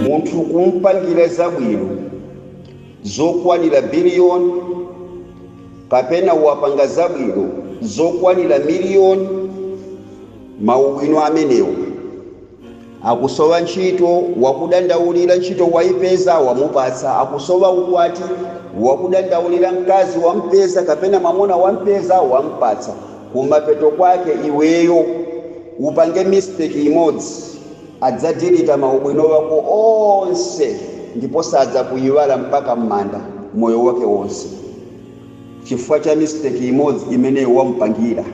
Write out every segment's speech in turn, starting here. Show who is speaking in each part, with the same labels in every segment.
Speaker 1: munthu kumpangira zabwino zokwanira biliyoni kapena wapanga zabwino zokwanira miliyoni maubwino amenewo Akusowa ntchito, wakudandaulira, ntchito waipeza, wamupatsa. Akusowa ukwati, wakudandaulira, mkazi wampeza kapena mwamuna wampeza, wamupatsa. Kumapeto kwake iweyo upange mistake imodzi, adzadilita maubwino wako onse ndipo sadzakuiwala mpaka m'manda moyo wake wonse chifukwa cha mistake imodzi imene wamupangira.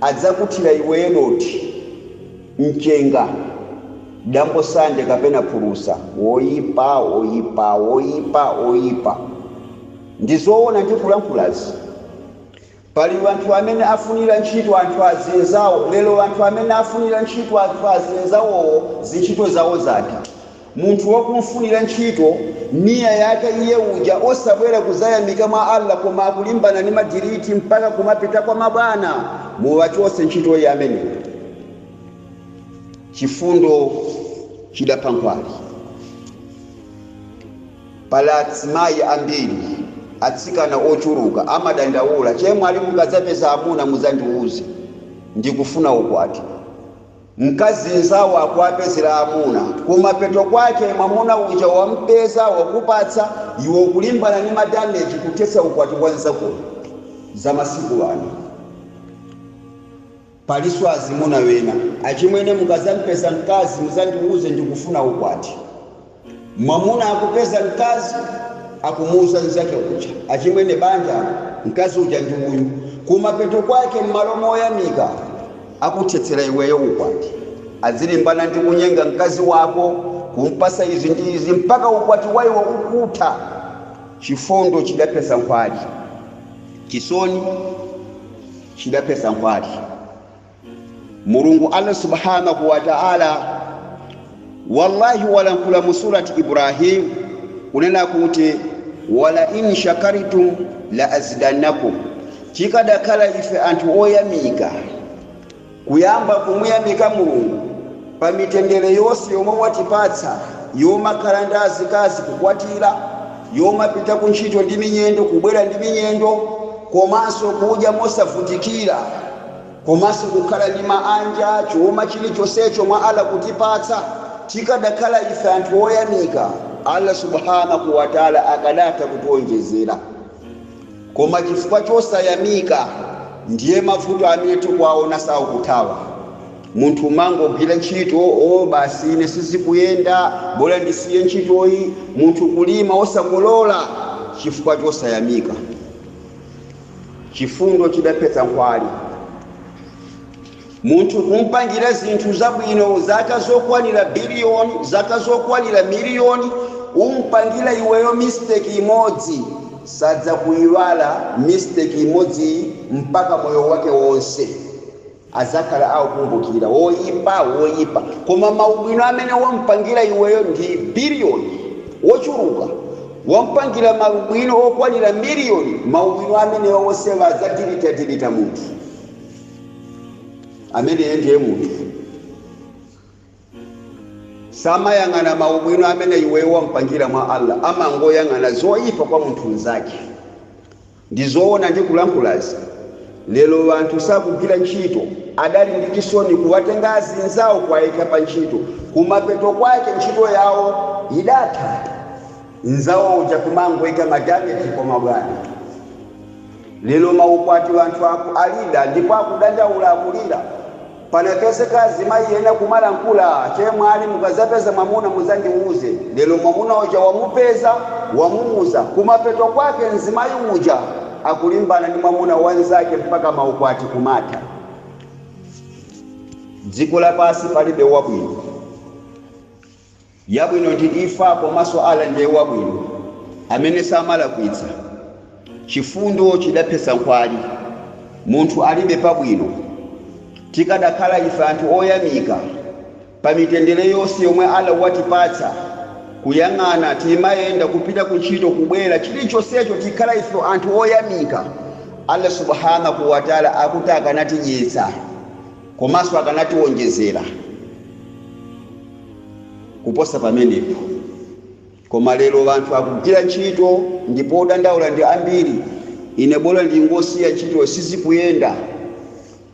Speaker 1: Adzakuthira iweyo dothi, mchenga, dambo sande kapena phulusa. Woipa, woipa, woipa, woipa. Ndi zoona ndikulankhulazi? Pali wanthu amene afunira ntchito anthu azinzawo lero wanthu amene afunira ntchito anthu azinzawowo zintchito zawo zati? Munthu wakumfunira ntchito, niyyah yake iye uja osabwera kudzayamika mwa Allah koma akulimbana ndi madiriti mpaka kumapita kwa mabwana, muwachotse ntchito ameneyo. Chifundo chidapha nkhwali. Pali azimayi ambiri, atsikana ochuluka amadandaula, Chemwali mukadzapeza amuna mudzandiuze, ndikufuna ukwati. Mkazi nzawo akuwapezera amuna kumapeto kwake mwamuna uja wampeza wakupatsa iwe ukulimbana ndi madameji kuthetsa ukwati wa nzakoyo. Za masiku ano. Palinso azimuna ena. Achimwene mukazampeza mkazi muzandiuze ndikufuna ukwati. Mwamuna akupeza mkazi, akumuuza mnzake uja, Achimwene, banja, mkazi uja ndi uyu. Kumapeto kwake, m'malo moyamika, akuthetsera iweyo ukwati. Adzilimbana ndi kunyenga mkazi wako, kumpatsa izi ndi izi, mpaka ukwati wa iwo ukutha. Chifundo chidaphetsa nkhwali. Chisoni chidaphetsa nkhwali. Mulungu Allah Subhaanahu wa Ta'ala wallahi walankhula mu surati Ibrahim kunena kuti wala in shakartum la azidannakum, chikadakhala ife anthu oyamika kuyamba kumuyamika Mulungu pa mitendere yonse yomwe watipatsa yomakhala ndi azikazi kukwatira, yomapita ku ntchito ndi minyendo kubwera ndi minyendo komanso kudya mosavutikira. komanso kukhala ndi manja chuma chilichonsecho mwa Allah kutipatsa tikadakhala ife anthu oyamika Allah subhanahu wa ta'ala akadatha kutionjezera koma chifukwa chosayamika ndiye mavuto amene tikuwaona sakuthawa munthu umangogwira ntchito o basi ine sizikuyenda bola ndisiye ntchitoyi munthu kulima osakolola chifukwa chosayamika chifundo chidaphetsa nkhwali munthu kumpangira zinthu zabwino zaka zokwanira biliyoni zaka zokwanira miliyoni umpangira iweyo mistake imodzi sadzakuyiwala mistake imodziyi mpaka moyo wake wonse adzakhala akukumbukira, Woipa, woipa, koma maubwino amene wamupangira iweyo ndi billion, Wochuluka, wamupangira maubwino okwanira million, maubwino amenewa onsewa adzadilitadilita munthu ameneyo ndiye munthu samayang'ana maubwino amene iweyo wamupangira mwa Allah amangoyang'ana zoipa kwa munthu mnzake Ndizoona ndikulankhulazi lelo wanthu sakugwila ntchito adali ndi chisoni kuwatenga azinzawo kuwayika pa ntchito kumapeto kwake ntchito yawo idatha nzawo uja kumangoika ma damage kwa mabwana lelo maukwati wanthu aku alida ndipo akudandaula akulila. Panapezeka azimayi ena kumalankhula, chemwali mukazapeza mwamuna muzandiuze, lero mwamuna uja wamupeza, wamuuza, kumapeto kwake mzimayi uja akulimbana ndi mwamuna wa nzake mpaka maukwati kumatha. Dziko lapasi palibe wabwino. yabwino ndi imfa komaso Allah ndiye wabwino amene samalakwitsa chifundo chidaphetsa nkhwali munthu alibe pabwino tikadakhala ife anthu oyamika pa mitendere yose yomwe Allah watipatsa kuyang'ana timayenda kupita ku ntchito kubwera chilichosecho tikhala ife anthu oyamika Allah subhanah wataala akuti akanatidyetsa Komanso akanatiwonjezera kuposa pamenepo. Koma lero anthu akugwira ntchito ndipo odandaula ndi ambiri. Ine bola ndingosiya ntchito sizikuyenda.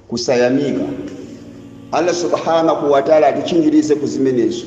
Speaker 1: Kusayamika. Allah Subhaanah wa Ta'la atitchingirize ku zimenezo.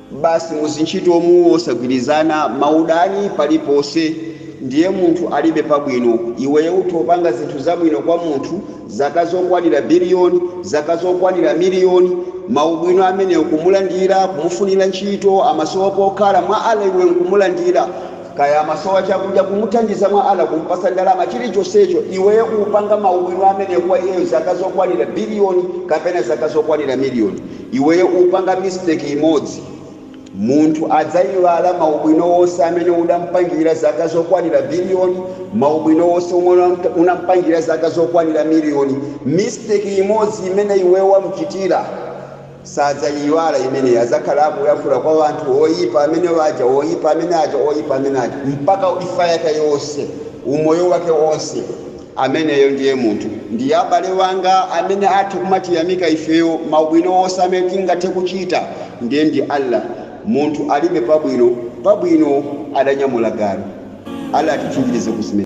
Speaker 1: basi muzintchito umu osagwirizana maudani paliponse ndiye munthu alibe pabwino iweyo utapanga zinthu zabwino kwa munthu zaka zokwanira billion zaka zokwanira million maubwino amenewo kumulandira kumufunira ntchito amasowa pokhala mwa Allah iwe nkumulandira kaya amasowa chakudya kumuthandiza mwa Allah kumpasa ndalama chilichonsecho iweyo kupanga maubwino amenewo kwa iyeyo zaka zokwanira billion kapena zaka zokwanira million Iweyo upanga mistake imodzi munthu adzaiwala maubwino onse amene udampangira zaka zokwanira billion, maubwino onse omwe unampangira zaka zokwanira million, mistake imodzi imene iweyo wamuchitira sadzaiiwala imeneyi adzakhala akuyankhula kwa wanthu oipa amene aja oipa amene aja oipa amene aja mpaka imfa yake yonse umoyo wake onse. Ameneyo ndiye munthu. Ndiye abale wanga amene athe kumatiyamika ifeyo maubwino onse amene tingathe kuchita ndiye ndi Allah. Munthu alibe pabwino pabwino adanyamula galu. Allah atichinjirize ku zime.